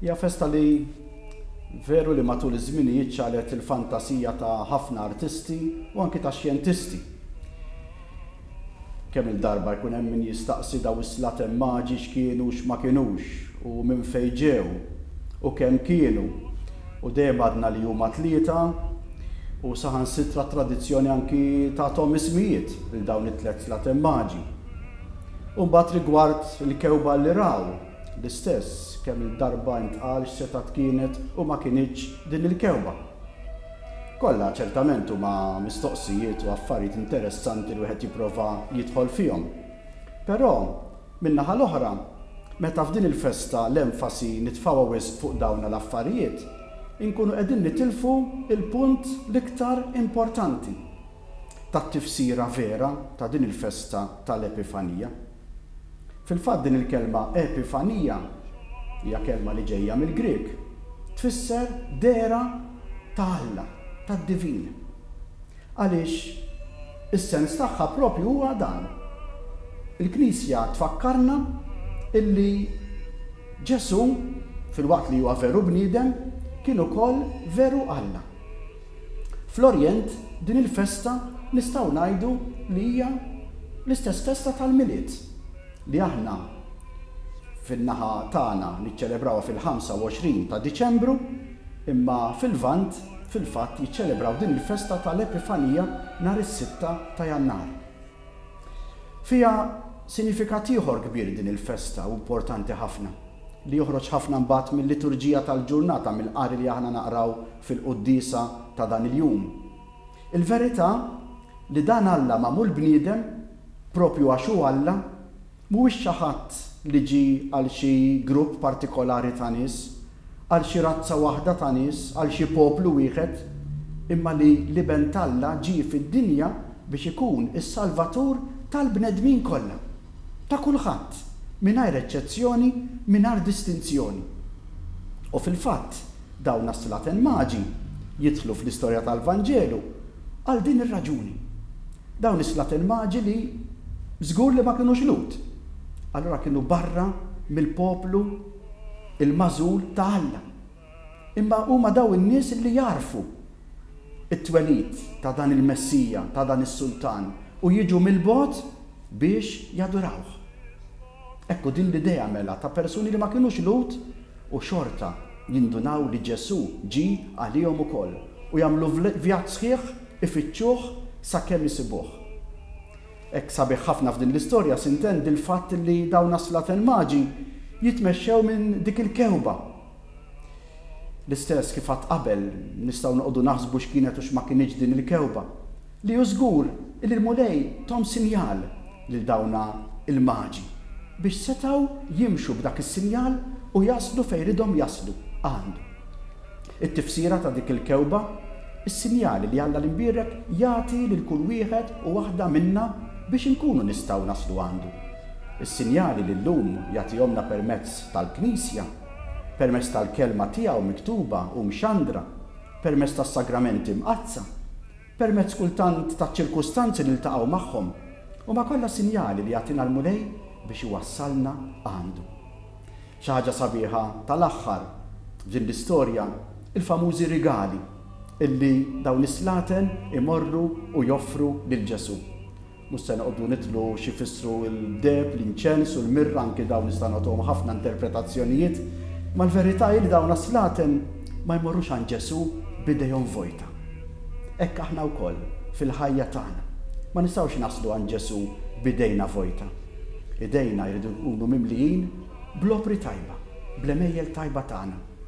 Hija festa li veru li matul iż-żminijiet ċalet il-fantasija ta' ħafna artisti u anki ta' xjentisti. Kemm-il darba jkun hemm min jistaqsi daw is-slaten maġi x'kienu u x'ma kinux u minn fejn ġew u kemm kienu u dejjem għadna li huma tlieta u saħansitra t-tradizzjoni anki tagħthom ismijiet lil dawn it-tliet slaten maġi. U mbagħad rigward il-kewba li raw, L-istess kemm-il darba intqal x'setgħat kienet u ma kinitx din il-kewwa. Kollha ċertament huma mistoqsijiet u affarijiet interessanti li wieħed jipprova jidħol fihom. Però, min-naħa l-oħra, meta f'din il-festa l-enfasi nitfgħuha wisq fuq dawna l-affarijiet, inkunu qegħdin nitilfu l-punt l-iktar importanti tat-tifsira vera ta' din il-festa tal-Epifanija. Fil-fatt din il-kelma epifanija, hija kelma li ġejja mill-Grieg, tfisser dehra ta' Alla, tad-divin. Għaliex is-sens tagħha proprju huwa dan. Il-Knisja tfakkarna illi Ġesù, filwaqt li huwa veru bniedem, kien ukoll veru Alla. Fl-Orjent, din il-festa nistgħu ngħidu li hija l-istess festa tal-Milied li aħna fin-naħa tagħna niċċelebrawha fil-25 ta' Diċembru, imma fil-Lvant fil-fatt jiċċelebraw din il-festa tal-Epifanija nhar is-sitta ta' Jannar. Fiha sinifikat ieħor kbir din il-festa u importanti ħafna, li joħroġ ħafna mbagħad mil-liturġija tal-ġurnata, mill-qari li aħna naqraw fil-quddiesa ta' dan il-jum. Il-verità li dan Alla magħmul bniedem, proprju għax hu Alla, Mhuwiex xi ħadd li ġie għal xi grupp partikolari ta' nies, għal xi razza waħda ta' nies, għal xi poplu wieħed, imma li l-Iben t'Alla ġie fid-dinja biex ikun is-Salvatur tal-bnedmin kollha, ta' kulħadd, mingħajr eċċezzjoni, mingħajr distinzjoni. U fil-fatt, dawn għas-slaten maġi jidħlu fl-istorja tal-Vanġelu għal din ir-raġuni. Dawn is-slat il-maġi li żgur li ma kinux Lhud, allura kienu barra mill-poplu l-magħżul ta' Alla. Imma huma dawn in-nies li jagħrfu t-twelid ta' dan il-Messija, ta' dan is-Sultan u jiġu mill-bogħod biex jadurawh. Hekk hu din l-idea mela ta' persuni li ma kinux Lhud u xorta jindunaw li Ġesù ġie għalihom ukoll u jagħmlu vjaġġ sħiħ ifittxuh sakemm isibuh. Hekk sabiħ ħafna f'din l-istorja s'intendi l-fatt li dawn għas-Slaten Magi jitmexxew minn dik il-kewba L-istess, kif għadt qabel, nistgħu noqogħdu naħsbu x'kienet u x'ma kinitx din il-kewba, li hu żgur li l-Mulej thom sinjal lil dawna l-maġi biex setgħu jimxu b'dak is-sinjal u jaslu fejn ridhom jaslu, għandu. It-tifsira ta' dik il-kewba, is-sinjali li Alla l-Imbierek jagħti lil kull wieħed u waħda minna biex inkunu nistgħu naslu għandu. Is-sinjali li llum jagħtihomna permezz tal-Knisja. permezz tal-Kelma tiegħu miktuba u mxandra, permezz tas-Sagramenti Mqaddsa, permezz kultant taċ-ċirkustanzi li niltaqgħu magħhom, huma kollha sinjali li jagħtina l-Mulej biex iwassalna għandu. Xi ħaġa sabiħa tal-aħħar f'din l-istorja, il-famużi rigali illi dawn is-slaten imorru u joffru lil Ġesù. Mhux se noqogħdu nidħlu x'ifissru l-deheb, l-inċens u l-mirra, anki dawn nistgħu nagħtuhom ħafna interpretazzjonijiet, imma l-verità hi li dawn għas-slaten ma jmorrux għand Ġesù b'idejhom vojta. Hekk aħna wkoll, fil-ħajja tagħna, ma nistgħux naslu għand Ġesù b'idejna vojta. Idejna jridu jkunu mimlijin bl-opri tajba, bl-għemejjel tajba tagħna.